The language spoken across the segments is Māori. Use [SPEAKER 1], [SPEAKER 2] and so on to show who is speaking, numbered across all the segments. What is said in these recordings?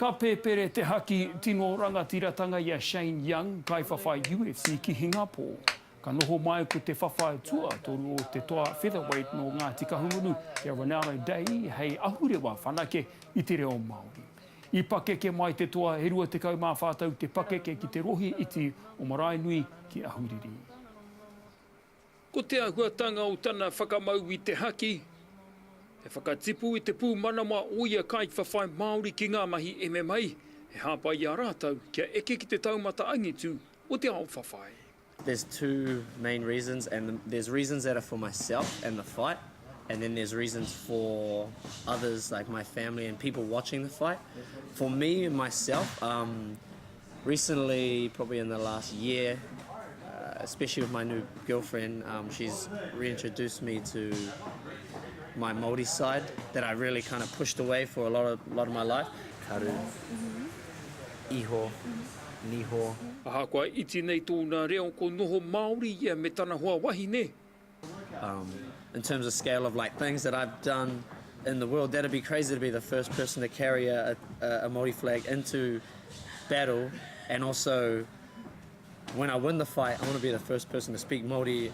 [SPEAKER 1] Ka pēpere te haki tino rangatiratanga i a Shane Young, kaiwhawhai UFC ki Hingapō. Ka noho mai ko te whawhai tuatoru o te toa featherweight nō Ngāti Kahungunu i a Ronaldo Day hei ahurewa whanake i te reo Māori. I pakeke mai te toa e 24 tau te pakeke ki te rohe iti o Maraenui ki Ahuriri.
[SPEAKER 2] Ko te āhuatanga o tana whakamau i te haki, he whakatipu i te pūmanawa o ia kaiwhawhai Māori ki ngā mahi MMA e hāpai i a rātou kia eke ki te taumata angitu o te ao whawhai. There's two
[SPEAKER 3] main reasons and there's reasons that are for myself and the fight and then there's reasons for others like my family and people watching the fight. For me, myself, umm, Recently, probably in the last year, especially with my new girlfriend, she's reintroduced me to my Māori side that I really kind of pushed away for a lot of, lot of my life. Karu, iho, niho. Ahakoa
[SPEAKER 2] iti nei tōna reo ko noho Māori ia me tana hoa wahine,
[SPEAKER 3] In terms of scale of like things that I've done in the world, that'd be crazy to be the first person to carry a a Māori flag into battle and also when I win the fight I want to be the first person to speak Māori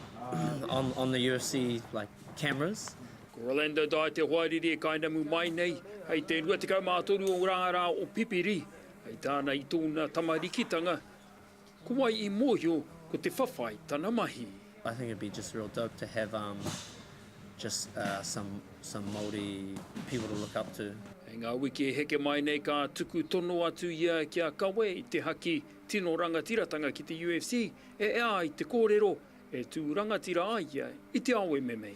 [SPEAKER 3] on on the UFC like cameras. Ko Rolando
[SPEAKER 2] Dai te hoariri e kainamu mai nei, hei te 23 o ngā rā o Pipiri, hei tāna i tōna tamarikitanga, Ko wai i mōhio ko te whawhai tana mahi? I think it'd be just
[SPEAKER 3] real dope to have um just uh some some Māori people to look up to. Hei ngā wiki e
[SPEAKER 2] heke mai nei ka tuku tono atu ia ki a Kawe i te haki tino rangatiratanga ki te UFC e ea ai te kōrero e tū rangatira ai ia i te ao MMA.